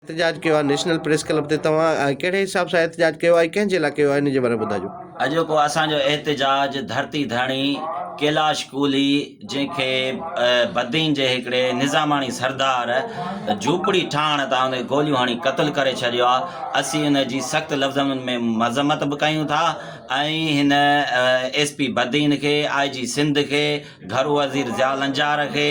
احتجاج ڪيو آهي نيشنل پريس ڪلب تي توهان ڪهڙي حساب سان احتجاج ڪيو آهي ڪنهن جي لاء ڪيو آهي ان جي باري ۾ ٻڌاجو. اڄوڪو اسان جو احتجاج ڌرتي ڌڻي ڪيلاش ڪولهي جنهن کي بدين جي هڪڙي نظاماڻي سردار جهوپڙي ٺاهڻ تان هن کي گوليون هڻي قتل ڪري ڇڏيو آهي اسين ان جي سخت لفظن ۾ مذمت به ڪيون ٿا ۽ هن ايس پي بدين کي آء جي سنڌ کي گهرو وزير ضياء لنجار کي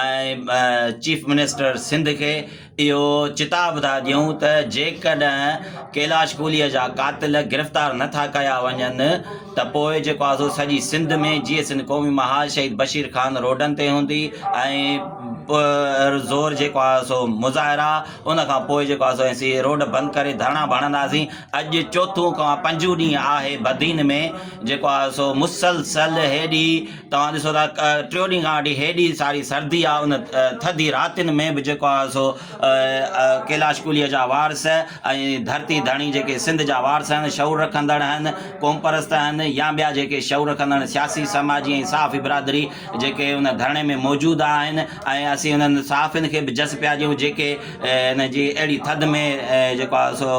۽ چيف منسٽر سنڌ کي اهو چتاء ٻڌائي ڏيون ته جيڪڏهن ڪيلاش ڪولهيء جا قاتل گرفتار نه ٿا ڪيا وڃن ته پوء جيڪو آهي سو سڄي سنڌ ۾ جيئي سنڌ قومي محاذ شهيد بشير خان روڊن تي هوندي ۽ زور جيڪو آهي سو مظاهرا ان کان پوء جيڪو آهي سو اسين روڊ بند ڪري ڌرڻا به هڻنداسين اڄ چوٿون کان پنجون ڏينهن آهي بدين ۾ جيڪو آهي سو مسلسل هيڏي توهان ڏسو ٿا ٽيون ڏينهن کان وٺي هيڏي ساري سردي آهي ان ٿڌي راتين ۾ به جيڪو آهي سو ڪيلاش ڪوليء جا وارث ۽ ڌرتي ڌڻي جيڪي سنڌ جا وارث آهن شعور رکندڙ آهن قوم پرست آهن يا ٻيا جيڪي شعور رکندڙ سياسي سماجي ۽ صحافي برادري جيڪي ان ڌرڻي ۾ موجود آهن ۽ اسين انهن صحافين کي به جس پيا ڏيون جيڪي ان جي اهڙي ٿڌ ۾ جيڪو آهي سو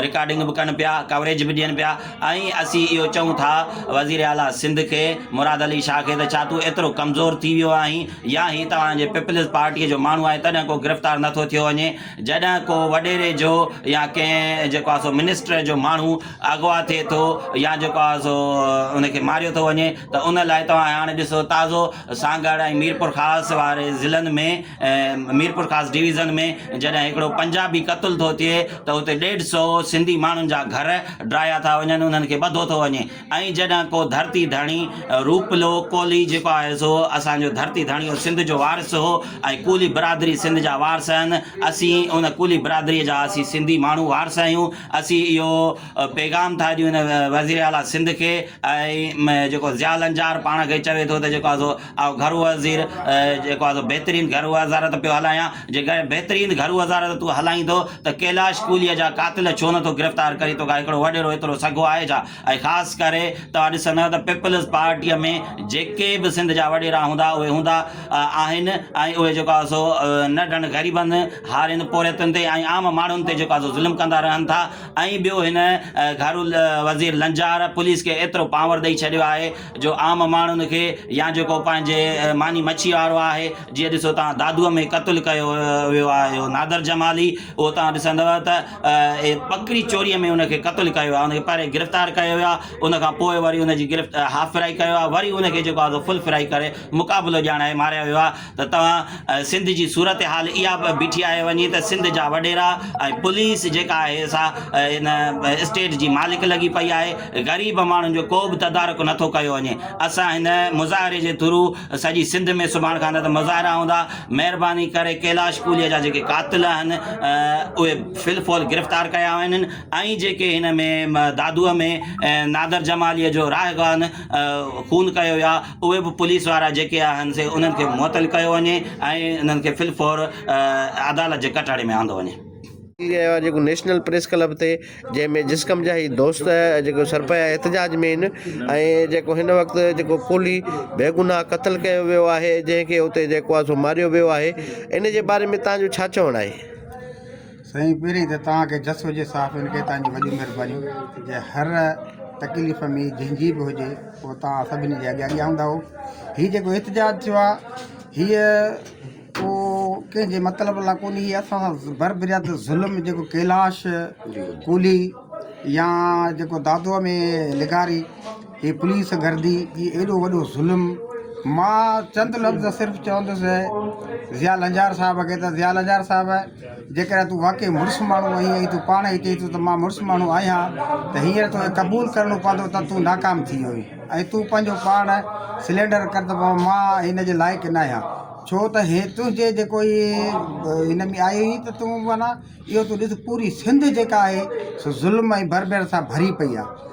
رڪارڊنگ به ڪن پيا، ڪوريج به ڏين پيا ۽ اسين اهو چئون ٿا وزير اعليٰ سنڌ کي مراد علي شاهه کي ته ڇا تون ايترو ڪمزور ٿي ويو آهين يا هي توهان جي پيپلز پارٽيء جو ماڻهو آهي تڏهن ڪو گرفتار نه ٿو ٿيو وڃي جڏهن ڪو وڏيري جو يا ڪنهن جيڪو آهي سو منسٽر جو ماڻهو اغوا ٿئي ٿو يا جيڪو آهي سو ان کي ماريو ٿو وڃي ته ان لاء توهان هاڻي ڏسو تازو سانگهڙ ۽ ميرپورخاص واري ضلعن ۾ ميرپورخاص ڊويزن ۾ جڏهن هڪڙو پنجابي قتل ٿو ٿئي ته اتي ڏيڍ سئو سنڌي ماڻهن جا گهر ڊاهيا ٿا وڃن انهن کي ٻڌو ٿو وڃي ۽ جڏهن ڪو ڌرتي ڌڻي روپلو ڪولهي جيڪو آهي سو اسان جو ڌرتي ڌڻي هو سنڌ جو وارث هو ۽ ڪولهي برادري سنڌ جا وارث آهن اسين ان ڪولهي برادري جا اسين سنڌي ماڻهو وارث آهيون اسين اهو پيغام ٿا ڏيون وزيراعليٰ سنڌ کي ۽ جيڪو ضياء لنجار پاڻ کي چوي ٿو ته جيڪو آهي سو آء گهرو وزير جيڪو آهي سو بهترين گهرو وزارت پيو هلايان، جيڪڏهن بهترين گهرو وزارت تون هلائيندو ته ڪيلاش ڪوليء جا قاتل ڇو نٿو گرفتار ڪرين، توکان هڪڙو وڏيرو ايترو سگهو آهي ڇا؟ ۽ خاص ڪري توهان ڏسندؤ ته پيپلز پارٽيء ۾ جيڪي به سنڌ جا وڏيرا هوندا اهي هوندا آهن ۽ اهي جيڪو آهي سو ننڍن غريبن هارين پورهيتن تي ۽ عام ماڻهن تي جيڪو آهي سو ظلم ڪندا رهن ٿا ۽ ٻيو هن گهرو وزير لنجار پوليس کي ايترو پاور ڏئي ڇڏيو آهي جو عام ماڻهن کي يا جيڪو پنهنجي ماني مڇي وارو آهي جيئن ڏسو توهان دادوء ۾ قتل ڪيو ويو آهي اهو نادر جمالي اهو توهان ڏسندو ته ٻڪري چوري ۾ ان کي قتل ڪيو ويو آهي ان کي پهرين گرفتار ڪيو ويو آهي ان کان پوء وري ان جي گرفت هاف فرائي ڪيو آهي وري ان کي جيڪو آهي سو فل فرائي ڪري مقابلو ڄاڻائي ماريو ويو آهي ته توهان سنڌ جي صورتحال اها به بيٺي آهي وڃي ته سنڌ جا وڏيرا ۽ پوليس جيڪا آهي سا ان اسٽيٽ جي مالڪ لڳي پئي آهي غريب ماڻهن جو ڪو به تدارڪ نٿو ڪيو وڃي اسان هن مظاهري جي ٿرو سڄي سنڌ ۾ سڀاڻ کان نه ته مظاهرا هوندا مهرباني ڪري ڪيلاش پوليء جا جيڪي قاتل آهن اهي في الفول گرفتار ڪيا وڃن ۽ جيڪي هن ۾ دادوء ۾ نادر جماليء جو راهه ڪان خون ڪيو ويو آهي اهي به پوليس وارا جيڪي آهن سي انهن کي معطل ڪيو وڃي ۽ انهن کي في الفور عدالت جي ڪٽهڙي ۾ آندو وڃي. ٿي رهيو آهي جيڪو نيشنل پريس ڪلب تي جنهن ۾ جسقم جا هي دوست جيڪو سرپايا احتجاج ۾ آهن ۽ جيڪو هن وقت جيڪو پولي بيگناهه قتل ڪيو ويو آهي جنهن کي اتي جيڪو آهي سو ماريو ويو آهي ان جي باري ۾ تهان جو ڇا چوڻ آهي؟ سائين پهرين ته توهان کي جس هجي صاف ان کي توهان جي وڏي مهربانيون جي هر تڪليف ۾ جنهن جي به هجي هو توهان سڀني جي اڳيان اڳيان هوندا هو هي جيڪو احتجاج ٿيو آهي هيء ڪو ڪنهن جي مطلب لا ڪونهي هي اسان سان بر برياد ظلم جيڪو ڪيلاش ڪولهي يا جيڪو دادوء ۾ لغاري هي پوليس گردي جي ايڏو وڏو ظلم مان چند لفظ صرف چوندس ضياء لنجار صاحب کي ته ضياء لنجار صاحب جيڪڏهن تون واقعي مڙس ماڻهو آهين ۽ تون پاڻ هي چئين ٿو ته مان مڙس ماڻهو آهيان ته هينئر توکي قبول ڪرڻو پوندو ته تون ناڪام ٿي ويو آهين ۽ تون پنهنجو پاڻ سلينڊر ڪر ته بابا مان هن جي لائق نه آهيان ڇو ته هي تنهنجي جيڪو هي هن ۾ آئي هئي ته تون معنيٰ اهو تون ڏس پوري سنڌ جيڪا آهي سو ظلم ۽ بربريت سان ڀري پئي آهي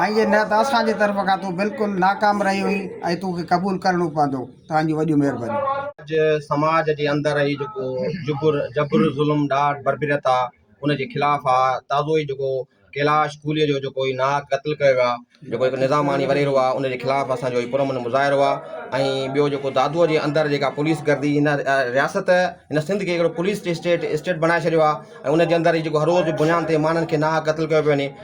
ائين جي نه ته اسان جي طرف کان تون بلڪل ناڪام رهي هئين ۽ تون کي قبول ڪرڻو پوندو. توهان جون وڏيون مهربانيون. اڄ سماج جي اندر هي جيڪو جبر جبر ظلم ڏاڍ بربريت آ ان جي خلاف آ تازو ئي جيڪو ڪيلاش ڪولهي جو جيڪو هي ناحق قتل ڪيو ويو آ جيڪو هڪ نظاماڻي وريرو آ ان جي خلاف اسان جو هي پر امن مظاهرو آ ۽ ٻيو جيڪو دادوء جي اندر جيڪا پوليس گردي هن رياست هن سنڌ کي هڪڙو پوليس اسٽيٽ اسٽيٽ بڻائي ڇڏيو آ ۽ ان جي اندر هي جيڪو هر روز بنيان تي ماڻهن کي ناحق قتل ڪيو پيو وڃي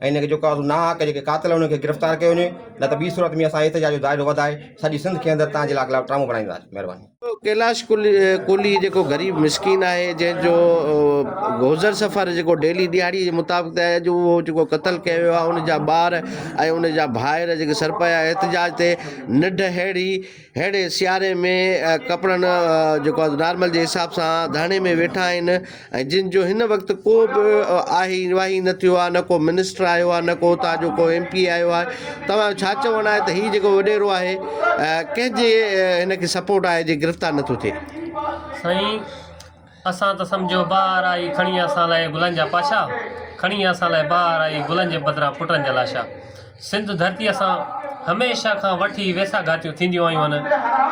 ۽ ان کي جيڪو آهي ناحق جيڪي قاتل انهن کي گرفتار ڪيو وڃي نه ته ٻي صورت ۾ اسان احتجاج جو دائرو وڌائي سڄي سنڌ کي اندر تان جي خلاف ڊرامو بڻائينداسين مهرباني. ڪيلاش ڪولهي جيڪو غريب مسڪين آهي جنهن جو گوزر سفر جيڪو ڊيلي ڏهاڙي جي مطابق ته اڄ اهو جيڪو قتل ڪيو ويو آهي ان جا ٻار ۽ ان جا ڀائر جيڪي سرپيا احتجاج تي نڍ ههڙي هينئڙي سياري ۾ ڪپڙن جيڪو آهي نارمل جي حساب سان ڌرڻي ۾ ويٺا آهن ۽ جن جو هن وقت ڪو به آهي واهي نه ٿيو آهي نه ڪو منسٽر آيو آهي نه ڪو هتان جو ڪو ايم پي آيو آهي توهان جو ڇا چوڻ آهي ته هي جيڪو وڏيرو آهي ڪنهن جي هن کي سپورٽ آهي جي گرفتار نٿو ٿئي سائين اسان ته سمجهيو بهار آئي کڻي اسان لاء گلن جا پاشا کڻي اسان لاء بهار آئي گلن جي بدران پٽن جا لاشا سنڌ ڌرتيء سان هميشه کان وٺي ويساهه گهاتيون ٿينديون آيون آهن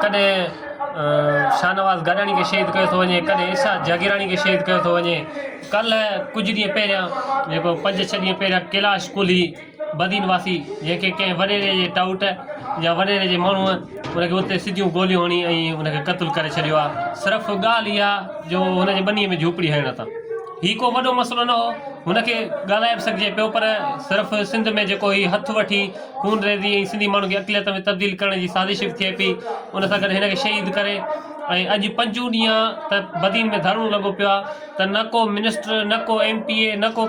ڪڏهن شاهنواز گڏاڻي کي شهيد ڪيو ٿو وڃي ڪڏهن ارشاد جاگيراڻي کي شهيد ڪيو ٿو وڃي ڪلهه ڪجهه ڏينهن پهريان جيڪو پنج ڇهه ڏينهن پهريان ڪيلاش ڪولهي بدين واسي جنهن کي ڪنهن وڏيري جي ٽائوٽ يا وڏيري جي ماڻهوء ان کي اتي سڌيون گوليون هڻي ۽ ان کي قتل ڪري ڇڏيو آ. صرف ڳالهه اها جو هن جي ٻنيء ۾ جهوپڙي هڻڻ تان. هي ڪو وڏو مسئلو نه هو. هن کي ڳالهائي به سگهجي پيو پر صرف سنڌ ۾ جيڪو هي هٿ وٺي خون ريزي ۽ سنڌي ماڻهن کي اقليت ۾ تبديل ڪرڻ جي سازش به ٿئي پئي ان سان گڏ هن کي شهيد ڪري ۽ اڄ پنجون ڏينهن ته بدين ۾ ڌرڻو لڳو پيو آ ته نه ڪو منسٽر نه ڪو ايم پي اي نه ڪو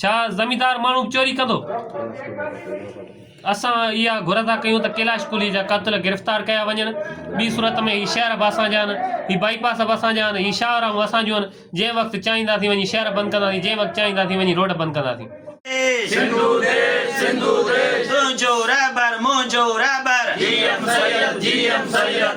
ڇا زميندار ماڻهو به چوري ڪندو؟ اسان اها گهر ٿا ڪيون ته ڪيلاش ڪلهي جا قاتل گرفتار ڪيا وڃن، ٻي صورت ۾ هي شهر به اسان جا آهن، هي بائي پاس به اسان جا آهن، هي شاهراهون اسان جون آهن، جنهن وقت چاهينداسين وڃي شهر بند ڪنداسين، جنهن وقت چاهينداسين وڃي روڊ بند ڪنداسين. سنڌو ديش سنڌو ديش تنهنجو رهبر منهنجو رهبر G M Syed G M Syed.